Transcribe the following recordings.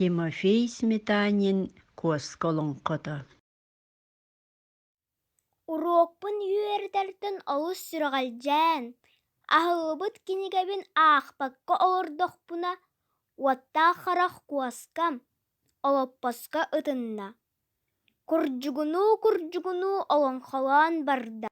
Тимофей Сметанин куоска олоҥхото Уруокпун үөрэтэртэн олус сүрэҕэлдьээн, аһыллыбыт кинигэбин аахпакка олордохпуна, уоттаах харах куоскам олоппоско ытынна. Курдьугунуу-курдьугунуу олоҥхолоон барда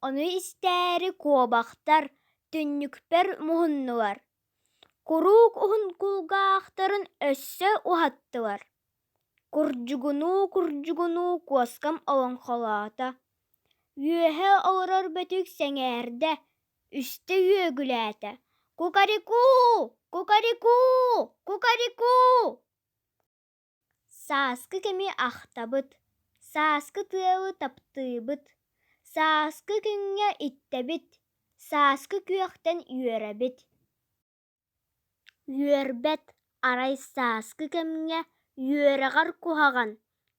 Ону истээри куобахтар түннүкпэр муһуннулар, куруук уһун кулгаахтарын өссө уһаттылар, курдьугунуу-курдьугунуу куоскам олоҥхолоото, үөһэ олорор бөтүк сэҥээрдэ, үстэ үөгүлээтэ: «Кукарику! Кукарику! Кукарику!» Сааскы кэми ахтабыт, сааскы тыалы таптыыбыт, сааскы күҥҥэ иттэбит, сааскы күөхтэн үөрэбит. Үөрбэт арай сааскы кэмҥэ үөрэҕэр куһаҕан,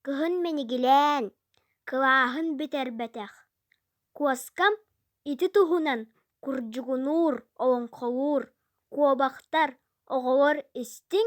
кыһын минигилээн, кылааһын бүтэрбэтэх. Куоскам ити туһунан курдьугунуур, олоҥхолуур, куобахтар, оҕолор истиҥ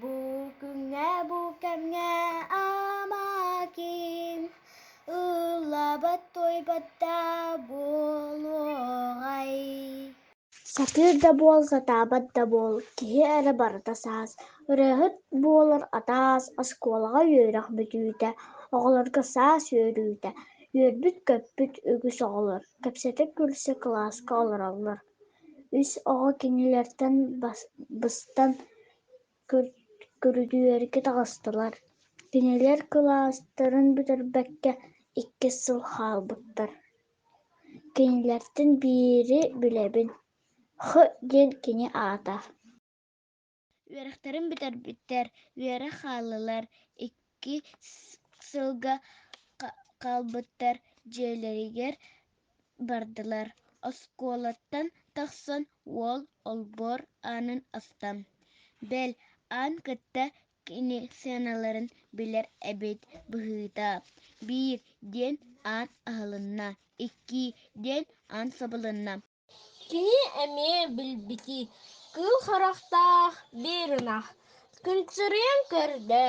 Бу күҥҥэ бу кэмҥэ Амакин ыллабат туойбат да буолуоҕай Сатыыр да буол, сатаабат да буол, киһи эрэ барыта саас. Ырыаһыт буолар атаас, оскуолаҕа үөрэх бүтүүтэ, оҕолорго саас үөрүүтэ. Үөрбүт-көппүт үгүс оҕолор, кэпсэтэ күлсэ кылааска олороллор. үс оҕо кинилэртэн быстан көрүдүөргэ таҕыстылар, кинилэр кылаастарын бүтэрбэккэ иккис сыл хаалбыттар Кинилэртэн биири билэбин Х диэн кини аата Үөрэхтэрин бүтэрбиттэр үөрэ хааллылар, икки сылга хаалбыттар дьиэлэригэр бардылар. Оскуолаттан тахсан уол олбуор аанын астан, бэл аан кытта кини сыаналарын билэр эбит быһыыта. Биир диэн аан аһылынна, икки диэн аан сабылынна. Кини эмиэ билбитий кыыл харахтаах биир ынах кынчырыйан көрдө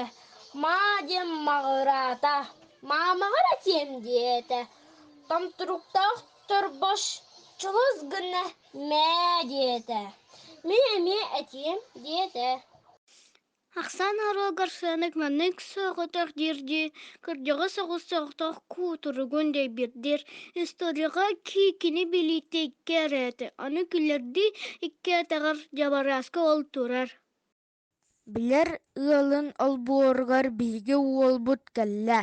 маа диэн маҕыраата маамаҕар этиэм диэтэ томтуруктаах торбоччулус гынна мээ диэтэ мин эмиэ этиэм диэтэ ахсаан оруолугар сыанык маннык соҕотох диирдии кырдьаҕас оҕус соҕотох куутуругун дэйбирдир историяҕа киикини билиитэ икки эрээтэ аны күлэрдии икки этэҕэр дьабарааска ол турар билэр ыалын олбуоругар биһиги уолбут кэллэ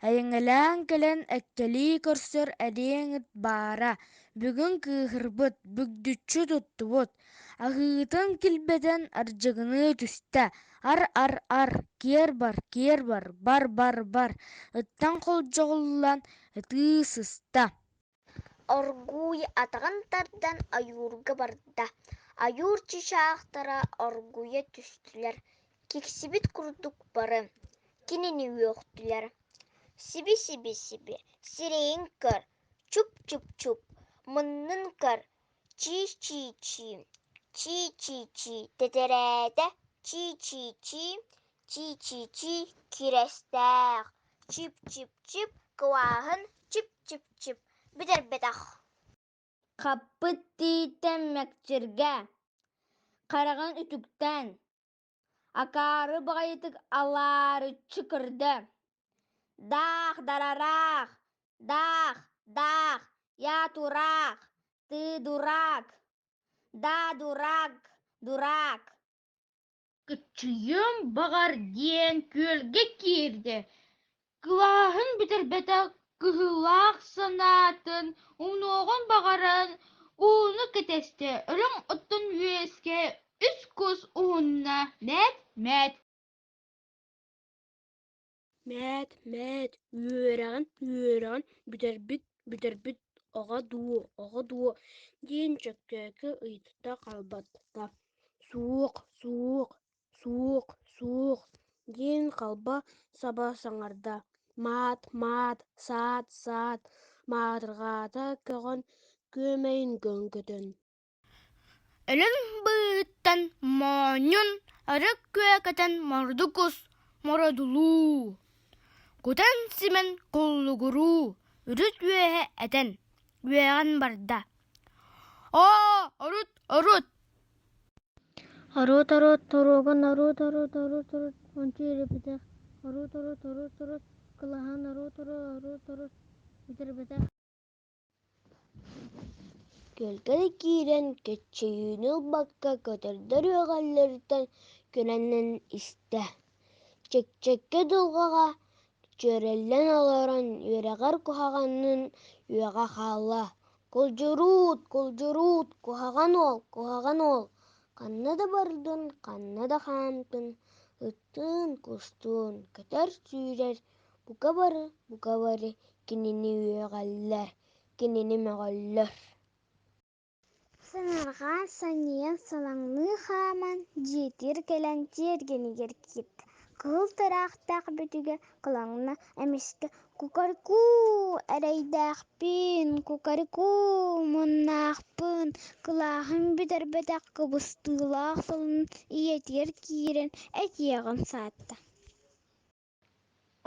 эйэҥэлээн кэлэн эккэлии көрсөр эриэн ыт баара бүгүн кыыһырбыт бүгдүччү туттубут Аһыытын килбэтэн ардьыгыныы түстэ, «Ар-ар-ар, киэр бар, киэр бар, бар-бар-бар» ыттан холдьоҕуллан ытыы сыста. Оргууй атаҕын тардан ойуурга барда. Ойуур чычаахтара оргуйа түстүлэр. Киксибит курдук бары кинини үөхтүлэр. «Сиби-сиби-сиби, сирэйин көр, чуп-чуп-чуп, муннун көр, чии-чии-чии чии-чии-чии тэтирээтэ чии-чии-чii чии-чии-чii кирэстээх чип-чип-чип кылааһын чип-чип-чип бүтэрбэтэх хаппыт тииттэн мэкчиргэ хараҕын үтүктээн акаары баҕайытык алаарыччы көрдө даах дарараах даах даах я тураах ты дурак да дурак дурак кыччыйыам баҕар диэн күөлгэ киирдэ Кылааһын бүтэрбэтэх кыһыылаах санаатын уҥуоҕун баҕаран ууну кэтэстэ, үрүҥ оттон үөскэ үс кус уһунна «Мээт, мээт» Мээт, мээт, үөрэҕин, үөрэҕин бүтэрбит, бүтэрбит оҕо дуу, оҕо дуу диэн Чөккөөкү ыйытта хаалбатта. Суох, суох, суох суох диэн халба саба саҥарда маат маат саат саат маатырҕаата көҕөн күөмэйин көҥкөтөн өлүн быыһыттан моонньун арык күө көтөн морду кус мородулуу кутан симэн куллугуруу үрүт үөһэ этэн үөҕэн барда оо урут урут Ороот ороот торуоган ороот ороот ороот ороот ончу ирэпитэх Ороот ороот ороот ороот кылаһаан ороот ороот ороот ороот бүтэрбэтэх Көлтөрө киирэн кэччийиини ылбакка көтөрдөр үөҕэллэриттэн күнэнэн истэ Чэкчэкэ дулҕаҕа дьүөрэллэн олорон үөрэҕэр куһаҕанын үөҕэ хаалла: «Кулдьуруут, кулдьуруут, куһаҕан уол, куһаҕан уол, ханна да бардын, ханна да хаамтын, ыттыын, кустуун, көтөр-сүүрэр, бука бары, бука бары кинини үөҕэллэр, кинини мөҕөллөр» сыҥырҕа сонньуйан салаҥныы хааман дьиэтигэр кэлэн тиэргэнигэр киирдэ кыыл тыраахтаах бүтүгэ кылаҥна эмискэ кукарыкуу эрэйдээхпин кукарыкуу муннаахпын кылааһым бүтэрбэтэх кыбыстыылаах салын ийэтигэр киирэн этиэҕин саатта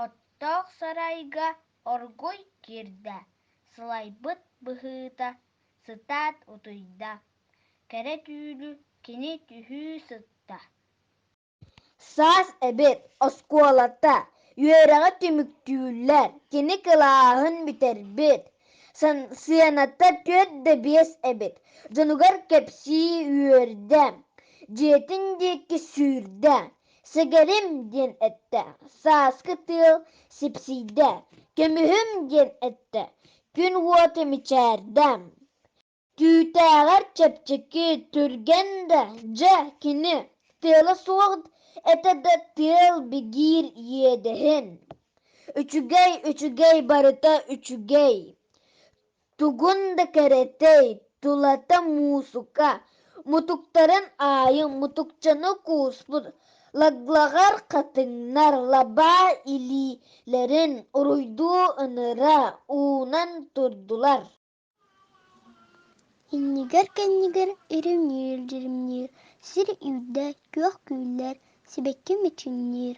оттоох сарайга оргуй киирдэ сылайбыт быһыыта сытаат утуйда кэрэ түүнү кини түһүү сытта саас эбит оскуолата үөрэҕэ түмүктүүллэр кини кылааһын бүтэрбит сыаната түөрт да биэс эбит дьонугар кэпсии үөрдэ дьиэтин диэки сүүрдэ Сэгэрим диэн эттэ, сааскы тыал сипсийдэ, көмүһүм диэн эттэ, күн уота мичээрдэ. Түүтээҕэр чэпчэки, түргэн да, дьэ кини, тыала суох этэ да тыал бигиир иэдэһин. Үчүгэй, үчүгэй барыта үчүгэй. Тугун да кэрэтэй, тулата муусука, мутуктарын аайы мутукчаны кууспут лаглаҕар хатыҥнар лабаа илиилэрин уруйдуу ыныра уунан турдулар Иннигэр-кэннигэр иримниир-дьиримниир, сир үүрдэ, күөх күүллэр, сибэкки мичиҥниир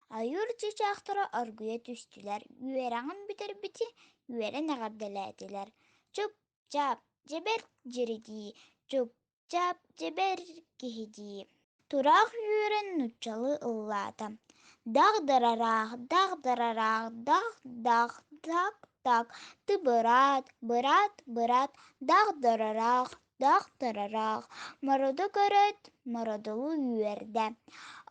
Айыыр чыычаахтара оргуйа түстүлэр, үөрэҕин бүтэрбити үөрэн эҕэрдэлээтилэр. Чуп-чаап, дьэбэр дьиридии, чуп-чаап, дьэбэр киһидии. Тураах үөрэн нууччалыы ыллаата. Дах дарараах, дах дарараах, дах дах, дак дак, ты быраат, быраат, быраат, дах дарараах. Даахтарара мороду көрөөт, мородулу үөрдэ.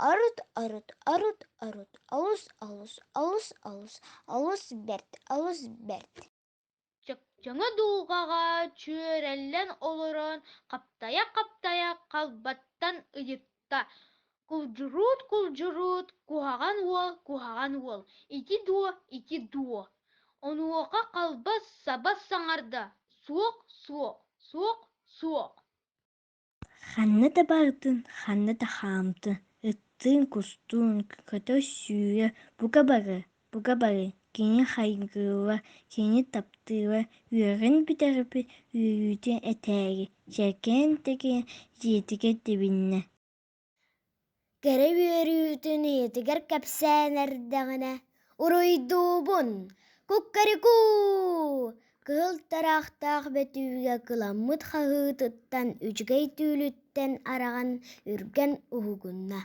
Орут, орут, орут, орут, олус, олус, олус, олус, олус бэрт, олус бэрт. Чөкчөҥө дулҕаҕа чүөрэллэн олорон хаптайа-хаптайа халбаттан ыйытта Кулдьурут, кулдьурут, куһаҕан уол, куһаҕан уол, ити дуо, ити дуо. Онуоха халбас сабас саҥарда, суох, суох, суох, суох. Ханна да барытын, ханна да хаамтын, ыттыын, кустуун, көтөр сүүрэ, бука бары буга бары кини хайгыылла кини таптыыла үөрэҕин бүтэрбит үөрүүтэ этээри чэркээн тэкээн дьиэтигэр тэбиннэ кэрэ үөрүүтүн ийэтигэр кэпсээн эрдэҕинэ уруйдуубун куккарикуу кыһыл тыраахтаах бөтүүгэ кыламмыт хаһыытыттан үчүгэй түүлүттэн араҕан үргэн уһугунна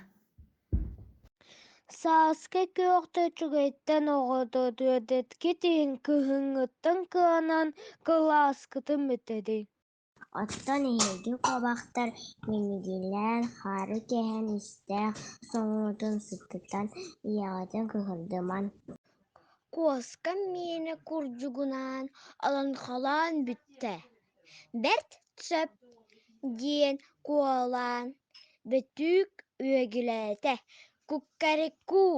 Сааскы күөхтэ үчүгэйтэн оҕото түөдэткит иһин кыһыҥҥыттан кыанан кылааскытын бүтэрий Оттон эһиги куобахтар мимигийлээн хаары кэһэн истээх соҥуутун сыттытан ийэҕитин кыһырдымаҥ Куоска миэнэ курдугунаан алаҥхалаан бүттэ бэрт сөп диэн куолаһын бөтүүк үөгүлээтэ куккарыkkуу